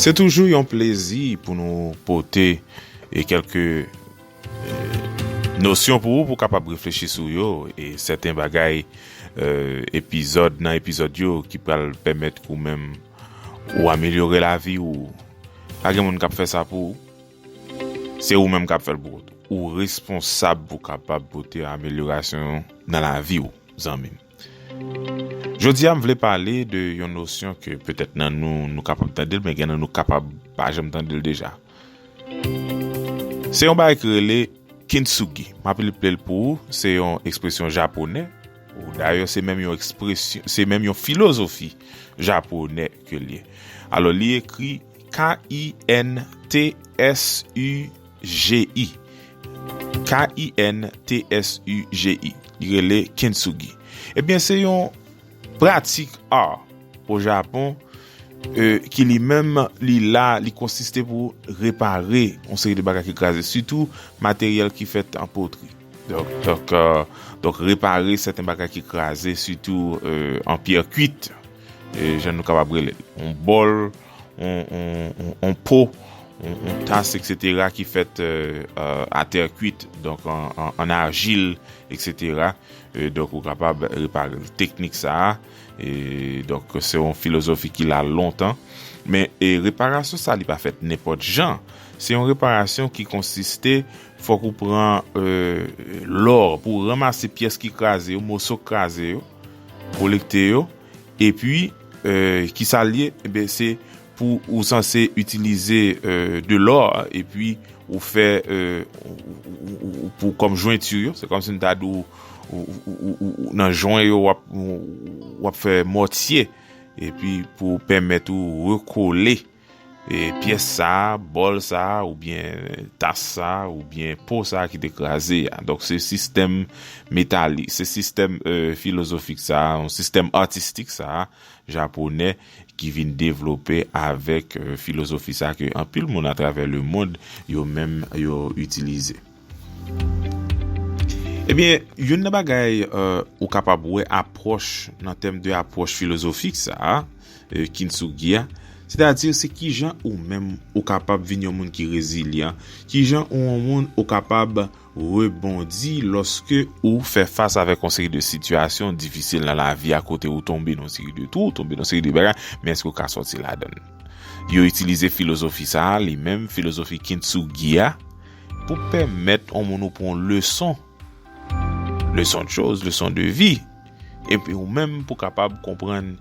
Se toujou yon plezi pou nou pote e kelke nosyon pou ou pou kapab reflechi sou yo e sèten bagay epizòd nan epizòd yo ki pral pèmèt ou menm ou amelyore lavi ou pa gen moun kap fè sa pou ou se ou menm kap fèl pou ou responsab pou kapab pote amelyorasyon nan lavi ou. Zanmi m. Jodi a m vle pale de yon nosyon ke petèt nan nou, nou kapab tande l men gen nan nou kapab pa janm tande l deja. Se yon bagay ki rele Kintsugi. M ap eple l pou ou, se yon ekspresyon japonè. Dayè se menm yon ekspresyon, se menm yon filozofi japonè ke l ye. Alò li ekri K-I-N-T-S-U. KINSUGI, K-I-N-T-S-U-G-I, li rele Kintsugi. Ebyen se yon pratik art o Japon ki li menm li la, li konsiste pou repare yon seri de bagay ki kraze, sitou materyèl ki fèt an potri. Donk repare sèten bagay ki kraze, sitou an pyè kuit, jan nou kapab rele l, yon bòl. on po, on tas, etc. Ki fèt a tè kuit, donk an arjil, etc. Donk ou kapab repare l. Teknik sa a, donk se on filozofi ki la lontan. Men reparasyon sa li pa fèt nenpòt jan. Se yon reparasyon ki konsiste, fòk ou pran lò pou ranmase pyès ki kraze yo, moso kraze yo, kolekte yo. E pi, ki sa l ye? E ben se pou ou sanse itilize de lò e pi ou fè pou kòm jwentu yo. Se kòm si m ta di ou nan jwen yo w ap fè mòtye e pi pou pèmèt ou rekole. E pyès sa a, bòl sa a, oubyen tas sa a, oubyen po sa a ki te kraze a. Donk se sistèm metalik, se sistèm filozofik sa a, yon sistèm atistik sa a, japonè, ki vin devlope avèk filozofi sa a ke anpil moun atravè lemond yo menm yo itilize. Ebyen, youn nan bagay ou kapab wè apwòch nan tèm de apwòch filozofik sa a, Kintsugi a, sètadi se kijan ou menm ou kapab vin yon moun ki rezilyan, kijan ou yon moun ou kapab rebondi lòske ou fè fas avèk yon seri de sitiyasyon difisil nan lavi a kote ou tonbe nan yon seri de twou, tonbe nan yon seri de bagay, men èske ou ka sòti ladan l. Yo itilize filozofi sa a li menm, filozofi Kintsugi a, Pou pèmèt yon moun ou pran yon leson, leson de choz, leson de vi, epi ou menm pou kapab konprann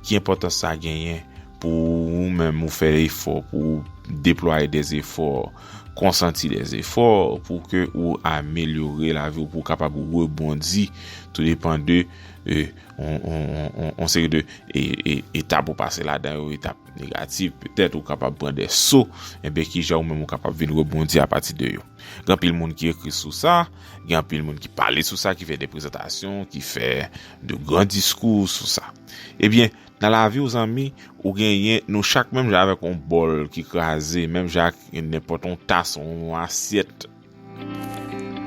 ki enpòtans sa genyen pou ou menm ou fè efò, pou ou deplwaye de zefò, konsanti de zefò pou ke ou amelyore lavi ou, pou ou kapab rebondi tou depan de yon seri de etap ou pase ladan yo, etap. Negatif, petèt ou kapab pran de so, enben kijan ou menm ou kapab vin rebondi apati de yo. Gen anpil moun ki ekri sou sa, gen anpil moun ki pale sou sa, ki fè de prezantasyon, ki fè de gran diskou sou sa. Ebyen, nan lavi ou zanmi, ou genyen, nou chak menm jan avèk yon bòl ki kraze, menm jan ak nenpòt yon tas, yon asyèt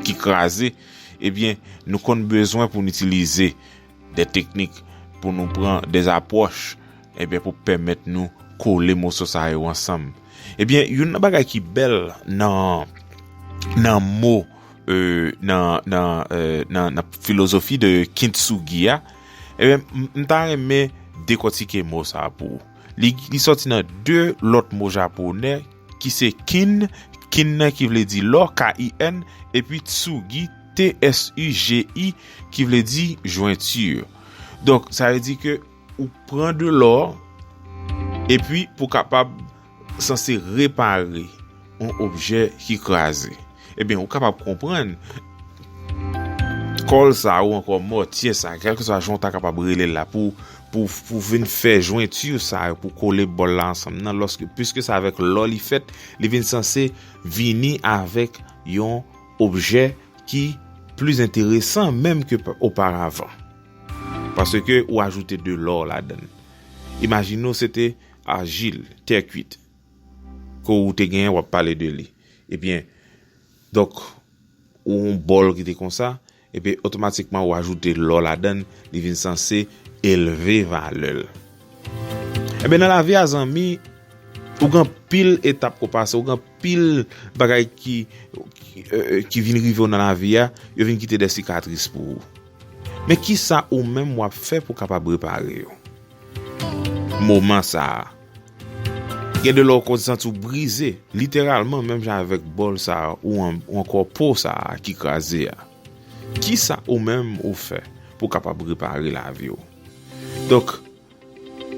ki kraze, ebyen nou konn bezwen pou nou itilize. Des techniques pou nou pran des approches ebyen pou pèmèt nou kole moso sa yo ansanm ebyen youn nan bagay ki bèl nan nan mo nan nan nan nan filozofi de kintsugi a ebyen m ta renmen dekòtike mo sa pou ou li sòti nan 2 lòt mo japonè ki se Kin, Kin nan ki vle di lò, KIN, epi Tsugi, TSUGI, ki vle di jwenti. Donk, sa vle di ke ou pran de lò, epi pou kapab sanse repare yon objè ki kraze. Ebyen ou kapab konprann kòl sa ou ankò mòtye sa, kèlke swa jan ou ta kapab rele l la pou pou vin fè jwentu sa yo pou kole bòl la ansanm nan lòske pwiske se avèk lò li fèt li vin sanse vini avèk yon objè ki plis enteresan menm ke oparavan. Paske ou ajoute de lò ladan l. Imajine ou se te ajil, tè kwit. Ke ou te genyen wap pale de li. Ebyen, donk ou yon bòl ki te konsa, epi otomatikman ou ajoute lò ladan l, li vin sanse elve valè l. Ebyen nan lavi a zanmi, ou gen anpil etap ke w pase, ou gen anpil bagay ki ki vin rive w nan lavi a, yo vin kite de sikatris pou ou. Men kisa ou menm wap fè pou kapab repare yo? Moman sa a. Gen de lè ou konn santi ou brize, literalman menm jan avèk bòl sa a ou ankò po sa a ki kraze a. Kisa ou menm ou fè pou kapab repare lavi ou? Donk,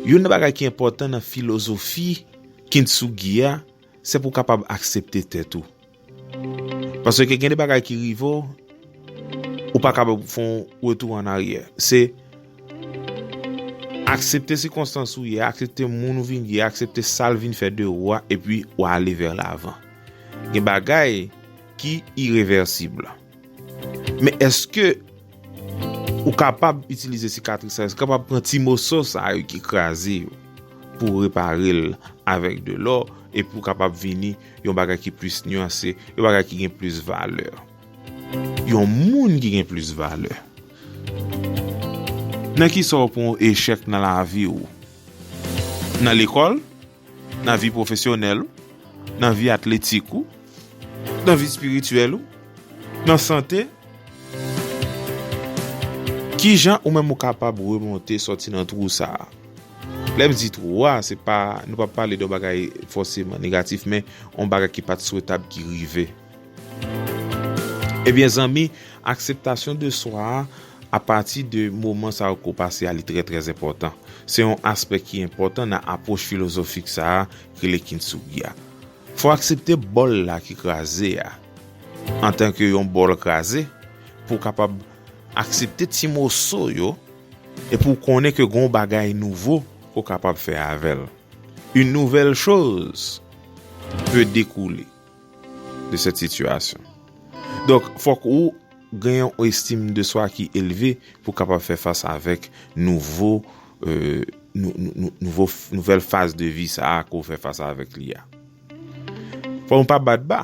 youn nan bagay ki enpòtan nan filozofi Kintsugi a, se pou kapab aksepte tèt ou. Paske gen de bagay ki rive w, ou pa kapab fè yon retou an aryè. Se aksepte sikonstans ou ye, aksepte moun ou vin ye, aksepte sa l vin fè de ou a, epi ou ale vè lavan. Gen bagay ki irevèsib. Men eske ou kapab itilize sikatris sa yo, eske ou kapab pran ti moso sa yo ki kraze yo, pou repare l avèk de lò, epi ou kapab vini. Yon bagay ki plis nyanse. Yon bagay ki gen plis valè. Yon moun ki gen plis valè. Nan ki sa w pran echèk nan lavi w? Nan lekòl? Nan vi pwofesyonèl ou? Nan vi atletik ou? Nan vi espirityèl ou? Nan sante? Ki jan ou menm ou kapab remonte sòti nan twou sa a? Lèm di twò a, se pa, nou pa pale de yon bagay fòseman negatif men yon bagay ki pat swetab ki rive. Ebyen zanmi, akseptasyon de swa a, a pati de moman sa yo ke w pase a li trè trè enpòtan. Se yon aspè ki enpòtan nan apwoch filozofik sa a ki rele Kintsugi a. Fò w aksepte bòl la ki kraze a, antanke yon bòl kraze, pou w kapab aksepte ti moso yo, Epi w konnen ke gen yon bagay nouvo ke w kapab fè avè l. Une nouvelle chose peut découler de cette situation. Donk, fòk ou gen yon estime de soi ki eleve pou kapab fè fas avèk nouvo, nouvo, nouvèl faz de vi sa a ke w fè fas avèk li a. Fòk nou pa bat ba.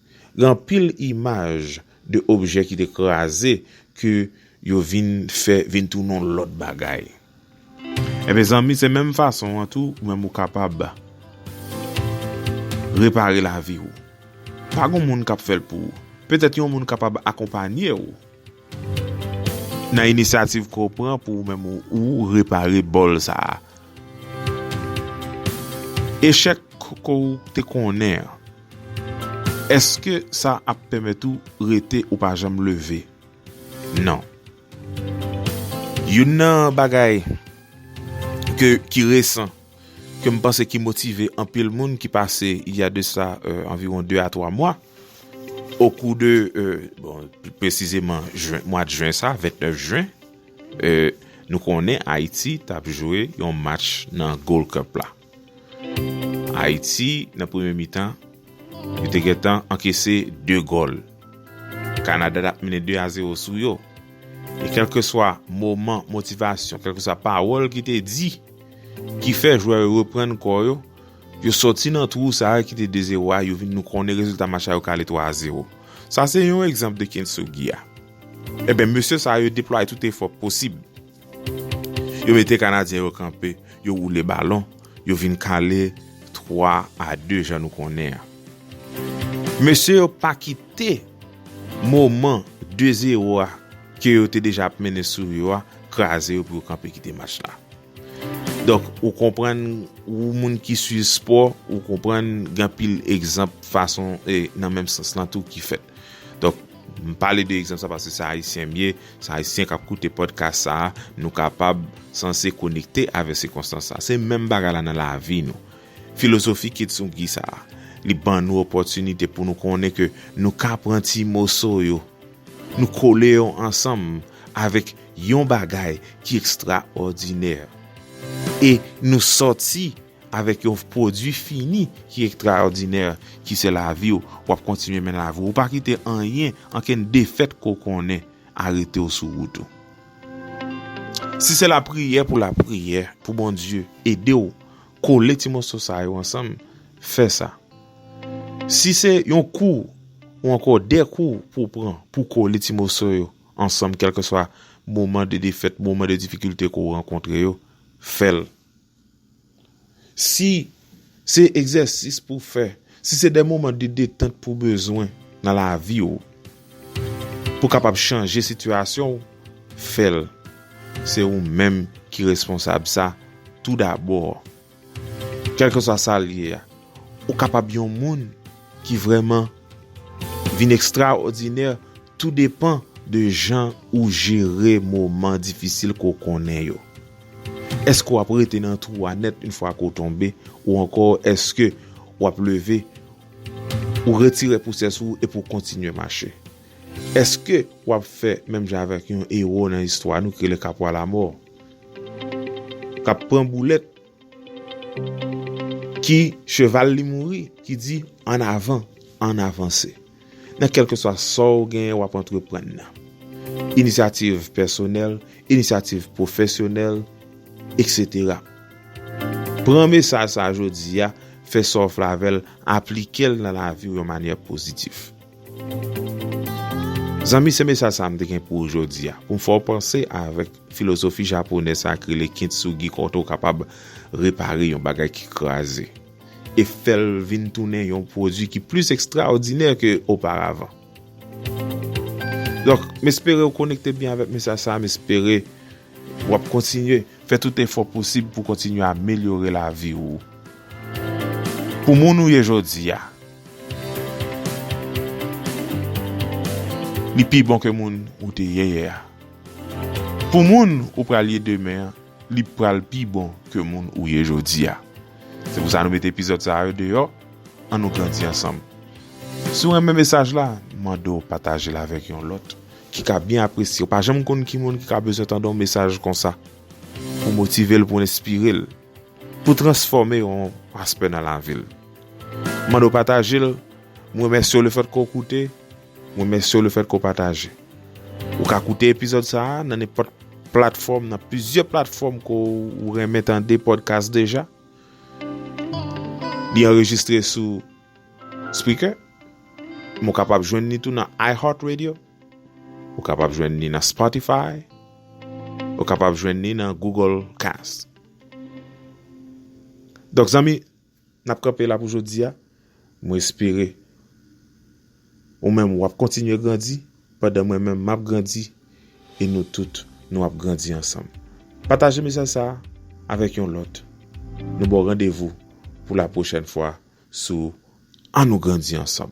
Gen anpil imaj de objè ki te kraze ke yo vin fè vin tounen yon lòt bagay. E mezanmi se menm fason an tou ou menm ou kapab repare lavi ou. Pa gon moun kap fèl pou ou. Petèt yon moun kapab akonpanye ou nan inisyativ ke w pran pou ou menm ou repare bòl sa a. Echèk ke w te konnen an. Èske sa ap pèmèt ou rete ou pa janm leve? Non. Youn nan bagay ke ki resan ke m panse ki motive anpil moun ki pase il y a de sa anviwon 2 a 3 mwa o kou de bon pi presizeman jwen mwa de jwen sa 29 jwen nou konnen Ayiti tap jwe yon match nan Gold Cup la. Ayiti nan premye mitan yo te gentan ankese 2 gòl. Kanada tap mennen 2 a 0 sou yo. E kelke swa moman motivasyon, kelke swa pawòl ki te di ki fè jwè yo reprann kò yo, yo soti nan twou sa a ki te 2 0 a, yo vin nou konnen rezilta match la yo kale 3 a 0. Sa se yon egzanp de Kintsugi a. Eben mesye sa yo deplwaye tout efò posib. Yo mete Kanadyen yo kanpe, yo woule balon, yo vin kale 3 a 2 jan nou konnen an. Mesye yo pa kite moman 2 zero a ke yo te deja ap mennen sou yo a kraze yo pou yo kanpe kite match la. Donk ou konprann ou moun ki swiv spò, ou konprann gen anpil egzanp fason e nan menm sans lan tou ki fèt. Donk, m pale de egzanp sa paske se Ayisyen m ye, se Ayisyen k ap koute pòdkas sa a, nou kapab sanse konekte avèk sikonstans sa a. Se menm bagay la nan lavi nou. Filozofi Kitsugi sa a, li ban nou opòtinite pou nou konnen ke nou ka pran ti moso yo, nou kole yo ansanm avèk yon bagay ki ekstraòdinè e nou sòti Avèk yon pwodui fini ki ektraòdinè ki se lavi w, w ap kontinye men lavi w. Ou pa kite anyen, ankenn defèt ke w konnen, arete w sou wout ou. Si se lapriyè pou lapriyè, pou Bondye ede w kole ti moso sa yo ansanm, fè sa. Si se yon kou ou ankò de kou pou w pran pou w kole ti moso yo ansanm kèlkeswa moman de defèt, moman de difikilte ke w rankontre yo, fè l. Si se egzèsis pou w fè, si se de moman de detant pou w bezwen nan lavi w, pou w kapab chanje sitiyasyon w, fè l. Se ou menm ki responsab sa tou dabò. Kèlkeswa sa l ye a. Ou kapab yon moun ki vrèman vin ekstraòdinè tou depan de jan ou jere moman difisil ke w konnen yo. Èske w ap rete nan twou a nèt yon fwa ke w tonbe ou ankò èske w ap leve, ou retire pousyè sou ou epi w kontinye mache? Èske w ap fè menm jan avèk yon ewo nan istwa nou ki rele Kapwa Lamò k ap pran boulèt? Ki cheval li mouri ki di an avan an avanse nan kelke swa sa w genyen wap antreprann nan. Inisyativ pèsonèl, inisyativ pwofesyonèl etc. Pran mesaj sa jodi a, fè sa w vle avè l, aplike l nan lavi w yon manyè pozitif. Zanmi se mesaj sa m te gen pou w jodi a, pou m fè w panse avèk Filozofi japonè sa k rele kintsugi kote ou kapab repare yon bagay ki kraze e fè l vin tounen yon pwodui ki plis ekstraòdinè ke oparavan. Donk, m espere ou konekte byen avèk mesaj sa a, m espere w ap kontinye fè tout efò posib pou kontinye amelyore lavi ou pou moun ou ye jodi a li pi bon ke moun ou te ye yè a. Pou moun ou pral ye demen an, li pral pi bon ke moun ou ye jodi a. Se pou sa nou mete epizòd sa yo deyò, an nou grandi ansanm. Si w renmen mesaj la, m mande w pataje l avèk yon lòt ki ka byen apresye. Ou pa janm konn ki moun ki ka bezwen tande yon mesaj konsa pou motive l, pou enspire l, pou transfòme yon aspè nan lavi l. M mande w pataje l, m remèsye w le fèt ke w koute. Mwen mèsye w le fèt ke w pataje. Ou ka koute epizòd sa a nan nenpòt platfòm, nan plizyè platfòm ke w renmen tande podcast deja. Li anrejistre sou Spreaker, men w kapab jwenn li tou nan iHeart Radio, ou kapab jwenn li nan Spotify, ou kapab jwenn li nan Google Cast. Donk zanmi, Nap kanpe la pou jodia, mwen espere ou menm wap kontinye grandi pandan mwen menm map grandi e nou tout nou ap grandi ansanm. Pataje mesaj sa avèk yon lòt, nou baw randevou pou la pwochèn fwa sou An nou grandi ansanm.